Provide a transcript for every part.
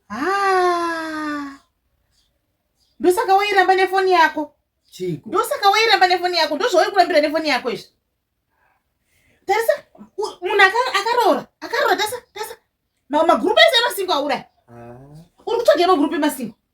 haa ndosaka wairamba nefoni yako chiko ndosaka wairamba nefoni yako ndozvauri kurambira nefoni yako izvi tarisa munhu akaroora akaroora tasa tasa magurupu ese emasingo auraya ah. uri kutsvaga emagurupu emasingo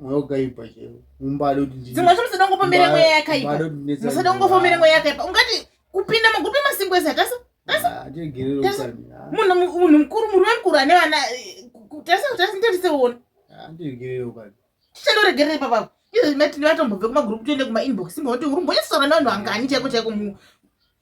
mweya ukaipa chero mumbado dzimwe zvinhu musada kungopomera mweya yakaipa musada kungopomera mweya yakaipa ungati kupinda magupi masingo ese hatasa munhu mukuru murume mukuru ane vana tarisatarisitarisewona tichandoregerera ipapapo izvo zvimatinivatombobve kumagrupu toende kumainbox moti uri mbonyasoranevanhu angani chaiko chaiko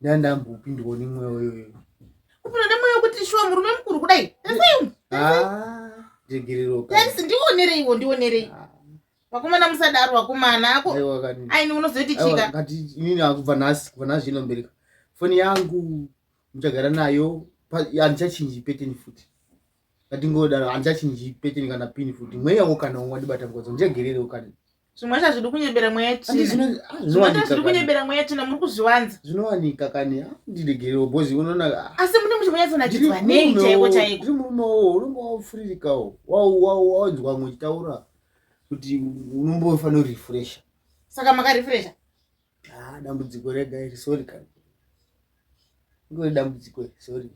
ndandambopindwawo nemweya uyoyo kupinda nemweya wekuti shuwa murume mukuru kudai ndaseyuaegereroaisi ndionereiwo ndionerei ah. vakomana musadaro vakomana ako aini unozoiti chika inini akubva nhasi kubva nhasi inombereka foni yangu muchagara nayo handichachinji peteni futi ngatingodaro hanzi achinji pete kana pini futi mweya wo kana umwe adibata ngodzo njegerere ukana zvimwe zvacho zviri kunyebera mweya tsvina zvimwe zvacho zviri kunyebera mweya tsvina muri kuzviwanza zvinowanika kani ndiregerewo bozi unoona asi mune muti munyatsonakidza nei chaiko chaiko uri murume wo unenge wafuririkawo wawanzwa mwe uchitaura kuti unombofanira kurefresha saka makarefresha Ah, dambudziko rega iri sorry kana. Ngori dambudziko iri sorry.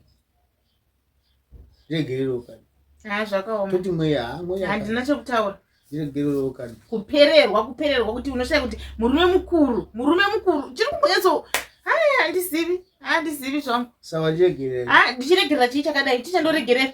Regerero kana. Ah, zvakaoma. Toti mweya, ah, mweya. Handina chokutaura. Regerero kana. Kupererwa, kupererwa kuti unoshaya kuti murume mukuru, murume mukuru. Chiri kumbonyatso. Hai, handizivi. Handizivi zvangu. Sawa, ndiregerera. Ah, ndichiregerera chii chakadai? Chichandoregerera.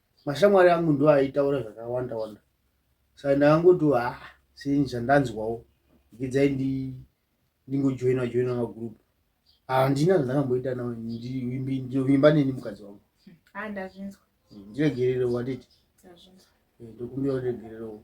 mashamwari angu ndo aitaura zvakawanda wanda saka ndakangoti ha ah, seni zvandanzwawo ndikidzai ndingojoina joina magroup handina zvandakamboita nawo ndinovimba neni mukadzi wangu ah, ndiregererewo anditi eh, ndokumbira uregererewo